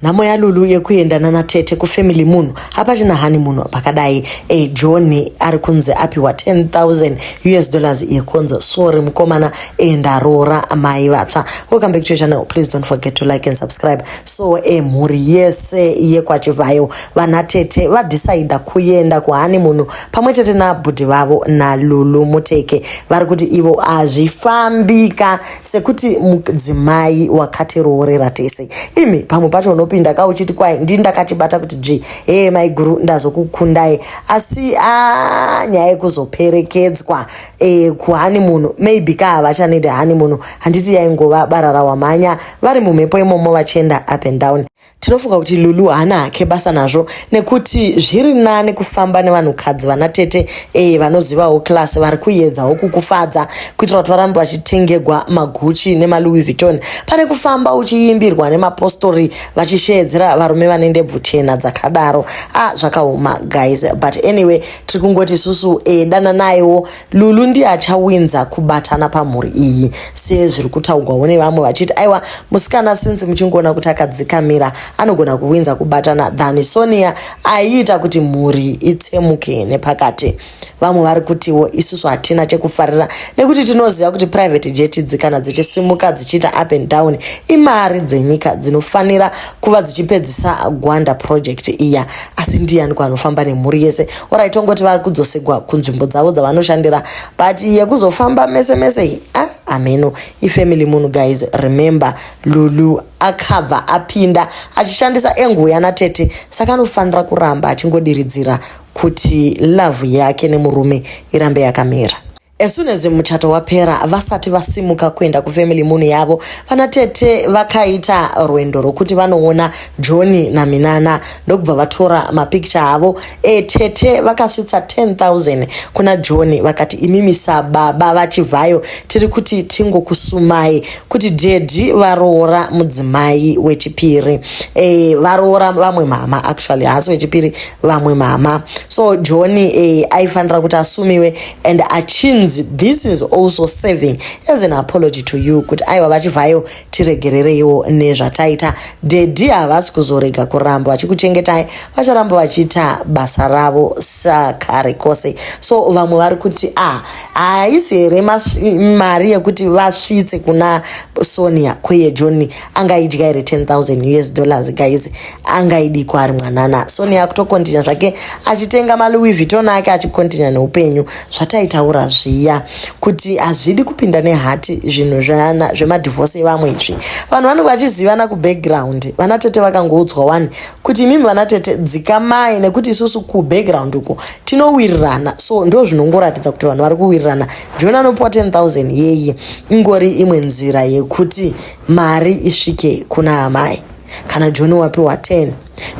Nhamo yaLulu yekuenda nana tete kufamily munhu hapachina hani munhu pakadai e eh, John ari kunzi apiwa 10000 US dollars yekonza sorry mukomana enda roora mai vatsva welcome back to your channel please don't forget to like and subscribe so e mhuri yese yekwachivayo vana tete vadecide kuenda kuhani munhu pamwe chete nabhudhi vavo naLulu muteke vari kuti ivo hazvifambika sekuti mudzimai wakatiroorera tese imi pamwe pacho unopinda ka uchiti kwai ndii ndakachibata kuti dzvi hee maiguru ndazokukundai asi a nyaya yekuzoperekedzwa e, kuhani munhu maybe ka havachanede hani munhu handiti yaingova barara wamhanya vari mumhepo imomo vachienda up and down Tinofunga kuti Lulu haana hake basa nazvo nekuti zviri nani kufamba nevanhukadzi vana tete eye vanozivawo class vari kuedzawo kukufadza kuitira kuti varambe vachitengegwa maguchi nemalouis vuitton pane kufamba uchiimbirwa nemapostori vachisheedzera varume vane ndebvu chena dzakadaro a ah, zvakaoma guys but anyway tiri kungoti isusu e, eh, dananaiwo Lulu ndiye achawinza kubatana pamhuri iyi sezviri kutaugwawo nevamwe vachiti aiwa musikana since muchingoona kuti akadzikamira anogona kuwinza kubatana than Sonia aiita kuti mhuri itsemuke nepakati. Vamwe vari kutiwo isusu hatina chekufarira nekuti tinoziva kuti private jet idzi kana dzichisimuka dzichiita up and down imari dzenyika dzinofanira kuva dzichipedzisa Gwanda project iya. asi ndiyani kwanofamba nemhuri yese orit ongoti vari kudzosegwa kunzvimbo dzavo dzavanoshandira but yekuzofamba mese mese iyi ah, ameno ifamily munhu guys remember lulu akabva apinda achishandisa engu yana tete saka anofanira kuramba achingodiridzira kuti love yake nemurume irambe yakamira As soon as muchato wapera vasati vasimuka kuenda kufamily munhu yavo vana tete vakaita rwendo rwokuti vanoona johni naminana ndokubva vatora mapicture avo e tete vakasvitsa 10000 kuna johni vakati imimi sababa vachivhayo tiri kuti tingokusumai kuti dedi varoora mudzimai wechipiri e, varoora vamwe mama actually haasi wechipiri vamwe mama so johni e, aifanira kuti asumiwe and achinzi this is also serving as an apology to you kuti aiwa vachivhayo tiregerereiwo nezvataita dedi havasi kuzorega kuramba vachikuchengetai vacharamba vachiita basa ravo sakare kose so vamwe vari kuti ah haisi here mari yekuti vasvitse kuna sonia kweye johni angaidya here 10000 us dollars guys angaidikwa ari mwanana soni akutokontinya zvake achitenga malouis viton ake achikontinya neupenyu zvataitaura zviya kuti hazvidi kupinda nehati zvinhu zvaana zvemadivhose evamwe izvi vanhu vanenge vachizivana kubackground vana tete vakangoudzwa wani kuti imimi vana tete dzikamai nekuti isusu kubackground uko tinowirirana so ndo zvinongoratidza kuti vanhu vari kuwirirana jona anopiwa 10000 yeye ingori imwe nzira yekuti mari isvike kuna amai kana joni wapiwa 10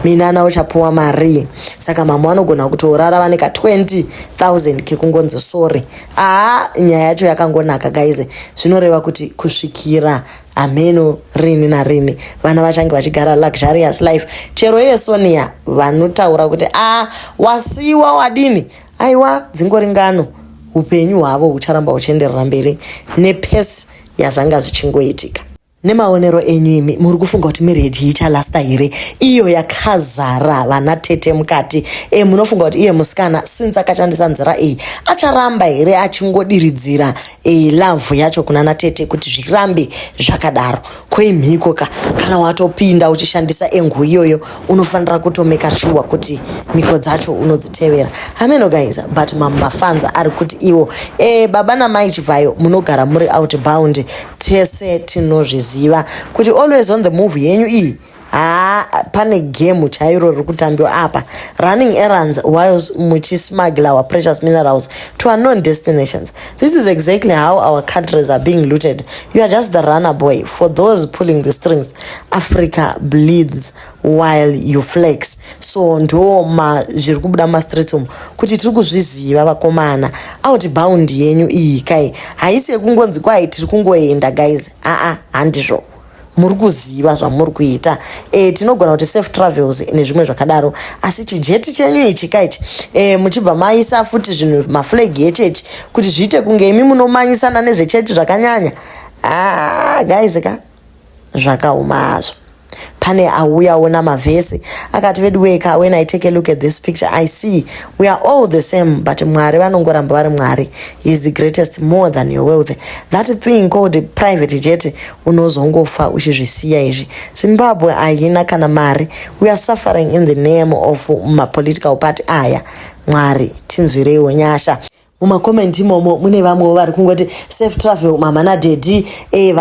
minana uchapiwa marii saka mama vanogona kutorara vane ka 20000 kekungonzi sori aa nyaya yacho yakangonaka gaize zvinoreva kuti kusvikira hameno rini narini vana vachange vachigara luxurious life chero iye sonia vanotaura kuti a wasiwa wadini aiwa dzingori ngano upenyu hwavo hucharamba huchienderera mberi nepesi yazvanga zvichingoitika nemaonero enyu imi muri kufunga kuti miredi yichalasta here iyo yakazara vana tete mukati e munofunga kuti iye musikana since akashandisa nzira iyi acharamba here achingodiridzira e, lavhu yacho kuna natete kuti zvirambe zvakadaro koimhiko ka kana watopinda uchishandisa engu iyoyo unofanira kutomeka shuwa kuti mhiko dzacho unodzitevera hameno guys but mamafanza ari kuti iwo e, baba namai chivhayo munogara muri outbound tese tinozviziva kuti always on the move yenyu iyi haa pane gemu chairo riri kutambiwa apa running errands whiles muchismuggler our precious minerals to unknown destinations This is exactly how our countries are being looted. You are just the runner boy for those pulling the strings. Africa bleeds while you flex. So ndo ma zviri kubuda mastreets umu kuti tiri kuzviziva vakomana. Outbound yenyu iyi kai haisi yekungonzi kwai tiri kungoenda guys. Aa ah, ah, handizvo. muri kuziva zvamuri kuita e, tinogona kuti safe travels nezvimwe zvakadaro asi chijeti chenyu ichi ka ichi e, muchibva maisa futi zvinhu maflag echechi kuti zviite kunge imi munomanyisana nezvechechi zvakanyanya ah, guys ka zvakaoma hazvo pane auyawo namavhesi akati veduweka when i take a look at this picture i see we are all the same but mwari vanongoramba vari mwari he is the greatest more than your wealth that thing called private jet unozongofa uchizvisiya izvi zimbabwe haina kana mari we are suffering in the name of mapolitical party aya mwari tinzwireiwo nyasha mumakomenti imomo mune vamwewo vari kungoti safe travel mama nadhedhi e,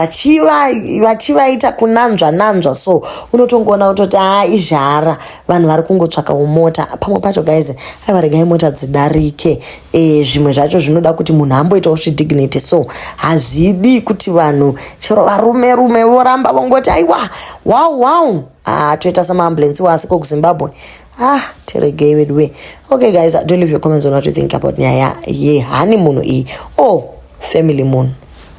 vachivaita kunanzva nanzva so unotongoona kutoti haa ah, izhara vanhu vari kungotsvaka umota pamwe pacho guys aivaregai mota dzidarike e, zvimwe zvacho zvinoda kuti munhu amboitawo zvidignity so hazvidi kuti vanhu chero varume rume voramba vongoti aiwa wow wow ah, toita samaambulensi wasi kokuzimbabwe ah tiregei vedu we okay guys do leave your comments on what you think about nyaya yehani munhu iyi o oh, family munhu